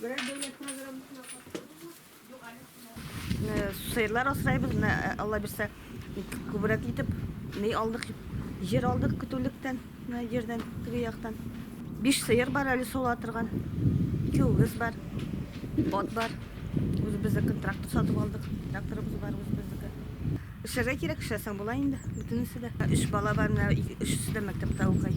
Берәр дәүләт программасына катнашабызмы? Юк, әле шулай. Сыерлар асрайбыз, менә э, Алла бирсә, күбрәк итеп ни алдык? Җир алдык көтүлектән, менә җирдән, теге яктан. Биш сыер бар әле сула торган. Ике үгез бар. Ат бар. Үзебезнекен трактор сатып алдык. Тракторыбыз бар үзебезнеке. Эшләргә кирәк, эшләсәң була инде, бөтенесе дә. Өч бала бар, менә өчесе дә мәктәптә укый.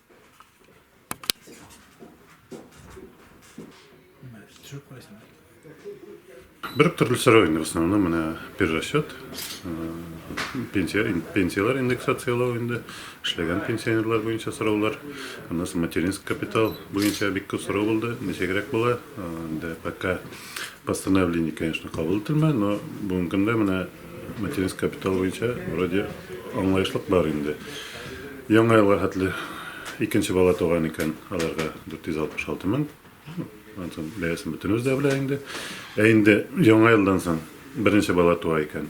Бер төрле сорау инде в основном менә перерасчет, пенсия, пенсияләр индексацияләү инде, эшләгән пенсионерлар буенча сораулар, аннан соң материнский капитал буенча бик күп сорау булды, ничегрәк була, инде пока постановление, конечно, кабул ителмәде, но бүгенге көндә менә Материнский капитал буенча вроде аңлаешлык бар инде. Яңа елга хәтле икенче бала туган икән, аларга 466 мең. Антон бәясен бөтенебез дә белә инде. Ә инде яңа елдан соң беренче бала туа икән.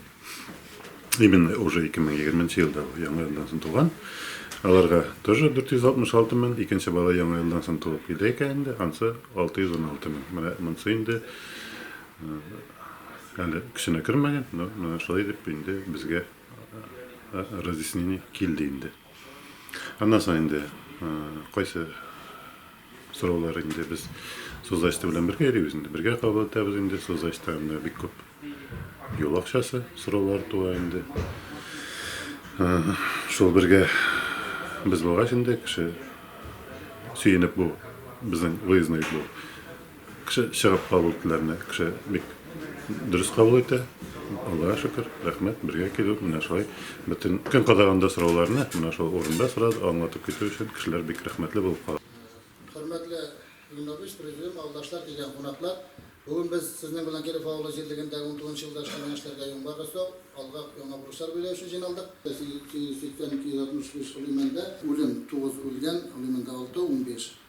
Именно уже 2020 елда яңа елдан соң туган. Аларга тоже 466 мең, икенче бала яңа елдан соң туып килде икән инде, ансы 616 мең. Менә монсы инде Әле көченә кермәгән, но менә шулай дип инде безгә разъяснение килде инде. Аннан соң инде кайсы сораулар инде без созачты белән бергә йөрибез инде, бергә кабул итәбез инде, созачта инде бик күп юл акчасы сораулар туа инде. Шул бергә без булгач инде кеше сөенеп бу безнең выездной бу Кеше чыгып кабул ителәрне кеше бик дөрес кабул итә. Аллага шөкер, рәхмәт, бергә килү, менә шулай бөтен көн кадаганда сорауларны менә шул урында сорады, аңлатып китү өчен кешеләр бик рәхмәтле булып кала. Хөрмәтле Гөлнурбикс, Президиум, авылдашлар, килгән кунаклар! Бүген без сезнең белән Киров авылы җирлегендәге унтугызынчы елда эшләнгән эшләргә йомгак ясау, алга яңа бурычлар бәйләү өчен җыйналдык. 880-265 Гөлимәндә үлем, тугыз үлгән, Гөлимәндә алты, унбиш.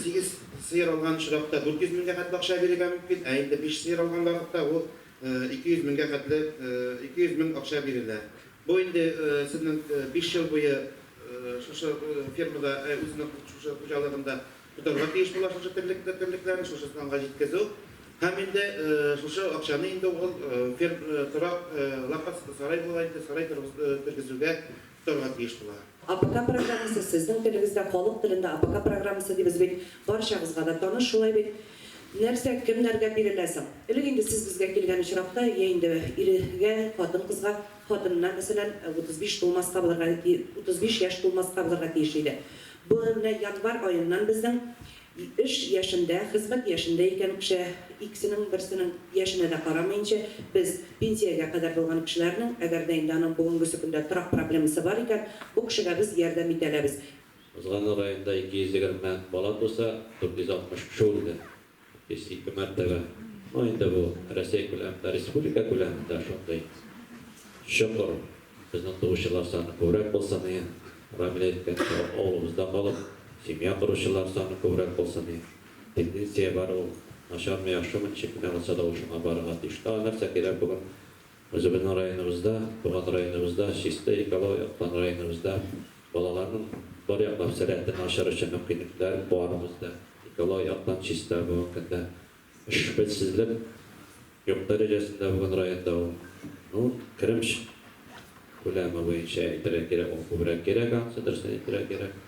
Сигез сыер алган очракта 400 меңгә хәтле акча бирергә мөмкин, ә инде биш сыер алган вакытта ул 200 меңгә хәтле 200 мең акча бирелә. Бу инде сезнең биш ел буе шушы фермада, үзенең шушы хуҗалыгында тотарга тиеш була шушы терлекләрне, шушы санга җиткезү. Һәм инде шушы акчаны инде ул торак лапас, сарай була инде, сарай тергезүгә Тыңлап биш була. АПК программасы сезнең телегездә халык телендә АПК программасы дибез бит, барчагызга да таныш шулай бит. Нәрсә, кемнәргә бирелә соң? Элек инде сез безгә килгән очракта, йә инде иргә, хатын-кызга, хатынына, мәсәлән, 35 тулмаска булырга, 35 яшь тулмаска булырга тиеш иде. Бу менә январь аеннан безнең Эш яшендә, хезмәт яшендә икән кеше, икесенең берсенең яшенә дә карамыйнча, без, пенсиягә кадәр булган кешеләрнең, әгәр дә инде аның бүгенгесе көндә торак проблемасы бар икән, бу кешегә без ярдәм итә алабыз. Узган ел районда 220 бала туса, 460 кеше үлде. 102 мәртәбә. Ну, инде бу Рәсәй күләмендә, республика күләмендә шундый чокыр. Безнең туучылар саны күбрәк булса ни, Рамил әйткәнчә, авылыбызда калып, семья коручылар саны күбрәк булса ни, тенденция бар ул, начармы, яхшымы, ничек кенә булса да ул шуңа барырга тиеш. Тагын нәрсә кирәк бүген үзебезнең районыбызда, туган районыбызда, чисто экология яктан районыбызда балаларның бар яклап сәләтен ачыр өчен мөмкинлекләр бар бездә, экология яктан чиста, бүгенге көндә Эшбелсезлек юк дәрәҗәсендә бүген районда ул. Ну, керем күләме буенча әйтергә кирәк, ул күбрәк кирәк, анысы дөрестән әйтергә кирәк.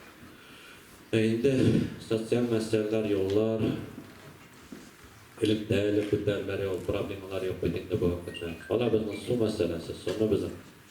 Ә инде социаль мәсьәләләр, юллар, элемтәле күтәреләр, ул проблемалар юк бит инде бүгенге көндә. Кала безнең су мәсьәләсе, суны безнең.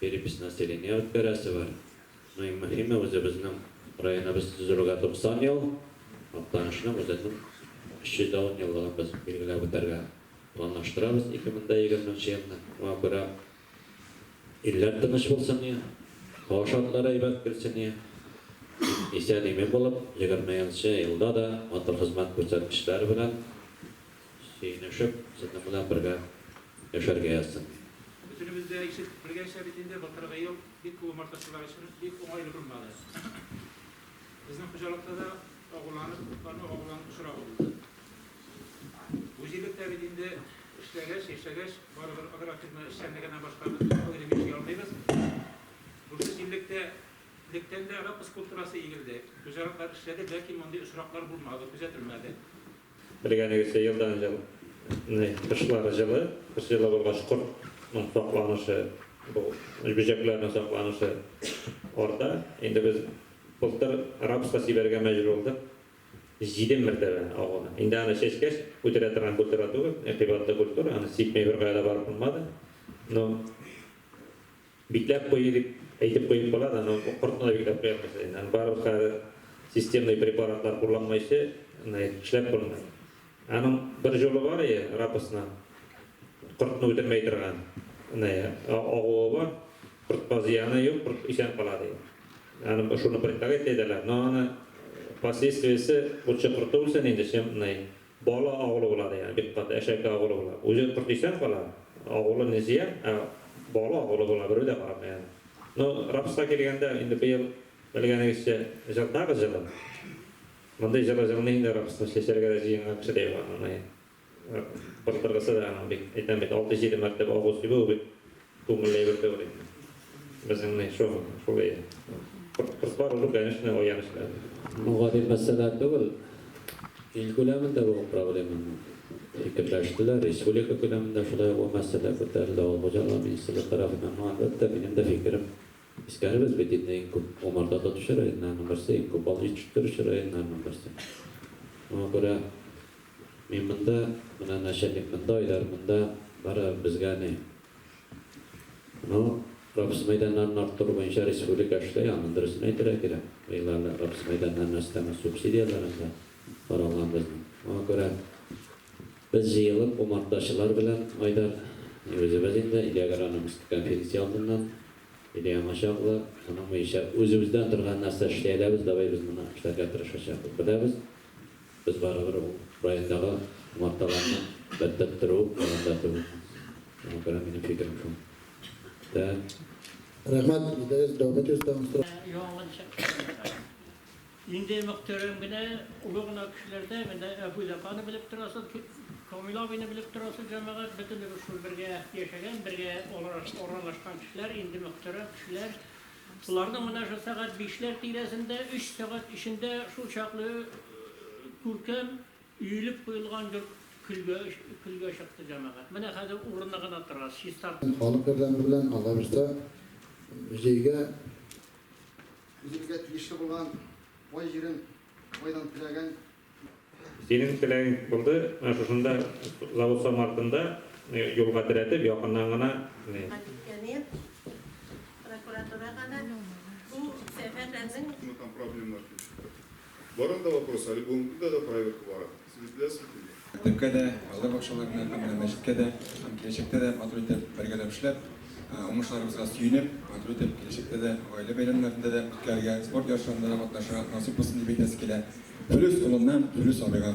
Перепись населения үткәрәсе бар. Ну иң мөхиме, үзебезнең районыбыз төзелүгә 90 ел, Актанышның үзенең 310 еллыгын без билгеләп үтәргә планлаштырабыз 2020 нче елны. Шуңа күрә илләр тыныч булсын ие, һава шартлары әйбәт килсен ие, исән-имин булып, егерменче елда да матур хезмәт күрсәткечләр белән, Сөенешеп, сезнең белән бергә яшәргә язсын. Бөтенебез дә ишек белгәнчә бит инде, былтыргы ел бик күп умартачылар өчен бик уңайлы булмады. Безнең хуҗалыкта да агуланып, туклану агулану очрагы булды. Бу җирлек тә бит инде эшләгәч, яшәгәч, барыбер агрофирма эшчәнлегеннән башка без аерым яши алмыйбыз. Шушы җирлек тә лектән дә рапс культурасы игелде. Хуҗалыклар эшләде, ләкин мондый очраклар булмады, күзәтелмәде. Белгәнегезчә, елдан-ел кышлар җылы, кыш җылы булгач, кортның сакланышы, бу бөҗәкләрнең сакланышы арта. Инде без былтыр рапска сибәргә мәҗбүр булдык, җиде мәртәбә агуны. Инде аны чәчкәч, үтерә торган культура түгел, кыйбатлы культура, аны сипми беркая да барып булмады. Ну. Бикләп кую дип әйтеп куеп кала да, но кортны да бикләп куя алмыйсыз инде. Аны барыбер хәзер системный препаратлар кулланмыйчы эшләп булмый. Аның бер җолы бар ие, рапосның кортны үтермәй торган агуы бар, кортка зыяны юк, корт исән кала ди. Аны шуны предлагать итәләр, но аны последствиесе лучше корты үлсен инде, чем Бала агулыулары, ягъни бик каты әшәке агулыулар. Үзе корт исән кала, агулы не зыян, ә бала агулы була, берү дә карамый аны. Ну, рапска килгәндә, инде быел, белгәнегезчә, җылытабыз җылы. Мондый җылы җылмый инде рапсны, чәчәргә дә җыенган кеше дә юк аның. Кыртыргысы да аның бик, әйтәм бит, алты-җиде мәртәбә агу сибү, ул бит. Күңел әйбер түгел инде. Безнең ни шул, шул әйе. Кортлар узып, конечно, оян эшләр. Бу гади мәсьәлә түгел. Ил күләмендә бу проблема. Фикерләштеләр, республика күләмендә шулай ук бу мәсьәлә күтәрелде. Авыл хуҗалыгы министрлыгы тарафыннан, әлбәттә, минем дә фикерем Искәрегез бит инде иң күп умарта тотучы районнарның берсе, иң күп бал җитештерүче районнарның берсе. Моңа күрә мин монда, менә начальник монда, Айдар монда, барыбер безгә ни. Ну, рапс мәйданнарын арттыру буенча республика эшли, аның дөресен әйтергә кирәк. Быел әле рапс мәйданнарына өстәмә субсидияләр анда каралган безнең. Моңа күрә. Без җыелып, умартачылар белән, Айдар, үзебез инде, Илья Граномский конференция алдыннан, Илья аңа чаклы, аның буенча үзебездән торган нәрсә эшли әләбез, давай без моны эшләргә тырышачакбыз. Беләбез, без барыбер ул райондагы умарталарны бәтбәт тору ягында түгелбез. Шуңа күрә минем фикерем шул. Тә. Рәхмәт, исегез дәүләт йорты. Яңалык чыкмаган. Инде мөхтәрәм генә, олы гына кешеләрдә менә Әбү Зәканы белеп торасыз, Камил абыйны белеп торасыз, җәмәгать, бөтенебез шул бергә яшәгән, бергә аралашкан кешеләр, инде мөхтәрәм кешеләр. Боларның менә шул сәгать бишләр тирәсендә, өч сәгать эчендә шул чаклы күркәм өелеп куелган йорт көлгә чыкты, җәмәгать. Менә хәзер урыны гына тора, чистартып. Халык ярдәме белән алар өстә музейга. Үзебезгә тиешле булган бай җирен байдан теләгән. Синең теләгең булды, менә шушында завод сам артында юлга терәтеп, якыннан гына. Әни, прокуратурага да бу сәфәрләрнең. Там проблемалар килеп чыкты. Барын да вопрос, әле бүгенге көндә дә проверка бара. Сез үтеләсез килми. Мәктәпкә дә, балалар бакчаларына һәм менә мәчеткә дә һәм киләчәктә дә матур итеп бергәләп эшләп, уңышларыбызга сөенеп, матур итеп киләчәктә дә гаилә бәйрәмнәрендә дә үткәрергә, спорт ярышларында да катнашырга насыйп булсын дип әйтәсе килә. Филүс улыннан Филүс абыйга.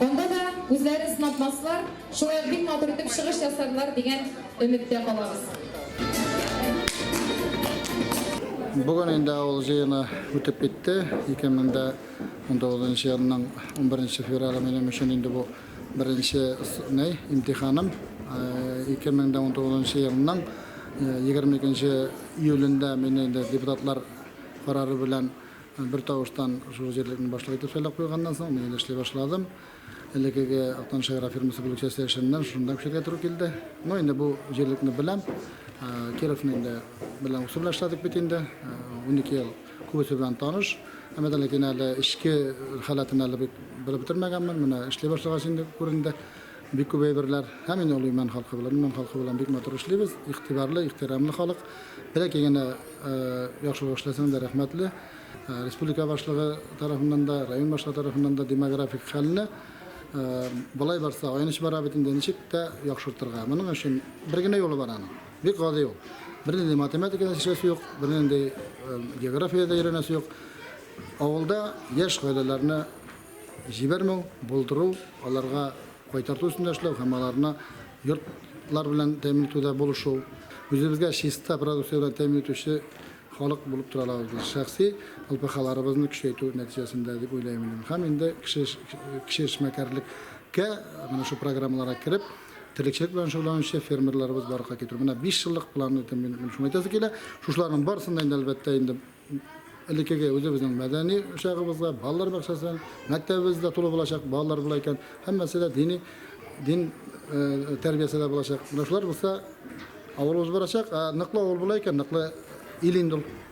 Анда да үзләре сынатмаслар, шулай ук бик матур итеп чыгыш ясарлар дигән өметтә калабыз. Бүген инде авыл җыены үтеп китте. 2019 нчы елның 11 феврале минем өчен инде бу беренче ней имтиханым. 2019 э, елның 22 э, июлендә мине инде депутатлар карары белән Бер тавыштан шул җирлекне башлык итеп сайлап куйганнан соң, мин инде эшли башладым. Элекеге Актаныш агрофирмасы бүлекчәсе эшеннән шунда күчәргә туры килде. Ну, инде бу җирлекне беләм. Кировны инде белән үсү белән эшләдек бит инде. Унике ел күбесе белән таныш. Әмма дә ләкин әле эчке халәтен әле бик белеп бетермәгәнмен. Менә эшли башлагач инде күренде. Бик күп әйберләр һәм мин олы имән халкы белән, имән халкы белән бик матур эшлибез, игътибарлы, ихтирамлы халык. Бәләкәй генә яхшылык эшләсәң дә рәхмәтле. Республика башлыгы тарафыннан да, район башлыгы тарафыннан да демографик хәлне болай барса айныч бара бит инде ничек тә яхшыртырга. Моның өчен бер генә юлы бар аның. Бик гади ул. Бернинди математикада эшләсе юк, бернинди географиядә өйрәнәсе юк. Авылда яшь гаиләләрне җибәрмәү, булдыру, аларга кайтарту өстендә эшләү һәм аларны йортлар белән тәэмин итүдә булышу, үзебезгә чиста продукция белән тәэмин итүче халык булып тора алабыз без, шәхси ЛПХларыбызны көчәйтү нәтиҗәсендә, дип уйлыйм мин. Һәм инде кеше кеше эшмәкәрлеккә, менә шул программаларга кереп, терлекчелек белән шөгыльләнүче фермерларыбыз барлыкка китерү. Менә биш еллык план итеп мин шуны әйтәсе килә. Шушыларның барысын да инде, әлбәттә, инде элеккеге үзебезнең мәдәни учагыбызга, балалар бакчасы, мәктәбебез дә тулы булачак, балалар була икән. Һәммәсе дә дини дин э, тәрбиясе дә булачак. Менә шулар булса, авылыбыз барачак, ә ныклы авыл була икән, ныклы ил инде ул.